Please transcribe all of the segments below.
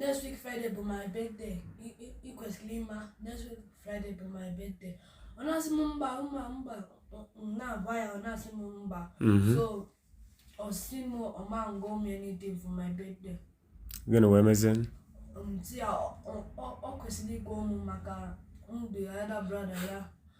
next week friday bụ my birthday ị kwesịrị ịma next week friday bụ my birthday ọ na-asị m mba mba mba m na-agwa ya ọ na-asị m mba mhm. so ọ sị m ọ ma-ego m anything for my birthday gịnị wee mezie um, ọ kwesịrị igo mụ maka m bụ ya elder brother ya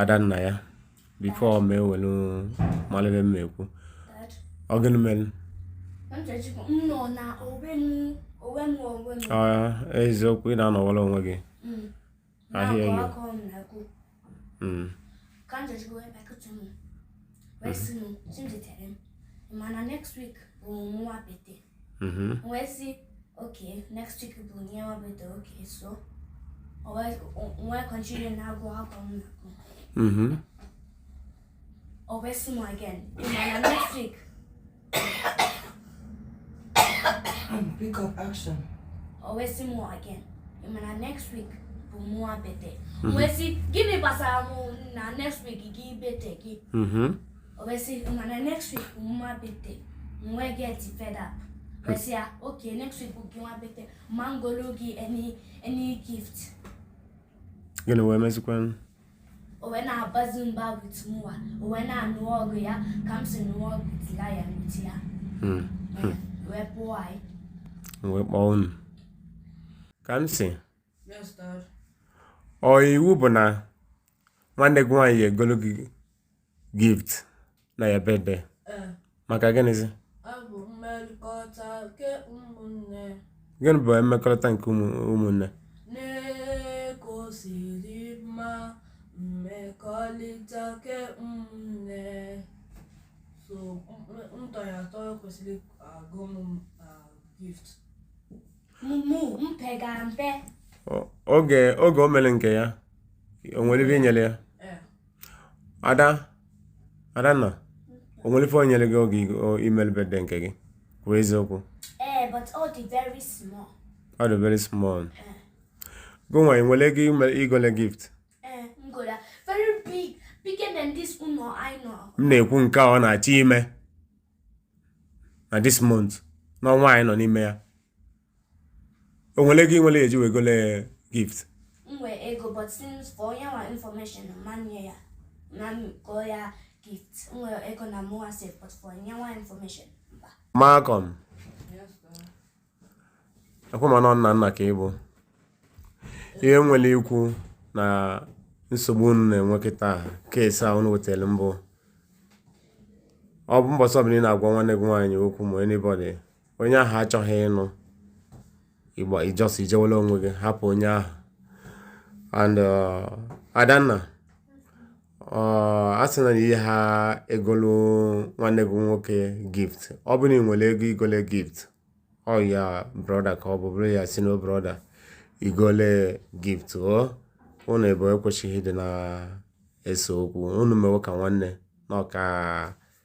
Adanna ya before m ewelu malu ife m ekwu ọ gịnị mere eziokwu ị na-anọwara onwe gị mm. ahịa enyi mm. ị ma na next week bụ my birthday Mhm. M wee sị, okay, next week bụ your birthday, okay, so. O wee, o- m wee continue na-agụ akwụkwọ m na-agụ. Mhm. O wee sị m again, ị ma na next week, Pick up action. o wee sị m again, ị ma na next week bụ mụwa birthday. M wee sị, gịnị gbasara mụ na next week gị birthday gị? Mhm. o wee sị m ị ma na next week bụ my birthday m wee get fed up wee sị ya okay next week bụ gịnwa birthday ama m egoro gị any any gift gịnị wee mezikwanụ o wee na-abazi mba with mụwa o wee na-anụ ọgụ ya ka m si nụọ ọgụ tila ya n'uti ya hmm. Hmm. wee pụọ anyị wee kpọọ unu Kamsi ọ iwu bụ na nwanne gị nwaanyị egolo gị gift na your birthday eh. maka gịnịzi gịnị bụ mmekọrịta nke ụmụnne mmekọrịta nke ụmụnne so m tọ ya atọ kwesịrị igo m gift mụ mpe ga mpe oge oge o mere nke ya o nwere ife i nyere ya ada adanna o nwere ife o nyere gị oge i mere birthday nke gị kwuo eziokwu eh, ọ dị very small ọ dị very small eh. gịnwa ị nwere ego igole gift eh, m na-ekwu nke ọ na-achọ ime na this month n'ọnwa anyị nọ n'ime ya o nwere ego ị nwere ye-eji wee gole gift m nwe ego but since ka onye nwa information ma nye ya ma go ya gift m nwe ego na mụwa safe but for onye nwa information mba Malcolm ekwe ma nọ nna nna ka ị bụ ihe m nwere ikwu na nsogbu unu na-enwe kịta case a unu wetara m bụ ọ bụ mbọsị ọbụla ị na-agwa nwanne gị nwaanyị okwu ma anybody onye ahụ achọghị ịnụ ịgba ị just ijewela onwe gị hapụ onye ahụ and uh, adanna uh, a sị na ihe ha egolu nwanne gị nwoke gift ọ bụ na ị nwere ego igole gift ọ your brother ka ọ bụ buru ya sị no brother igole gift o unu abụọ ekwesịghị ịdị na-ese okwu unu mewe ka nwanne na ọka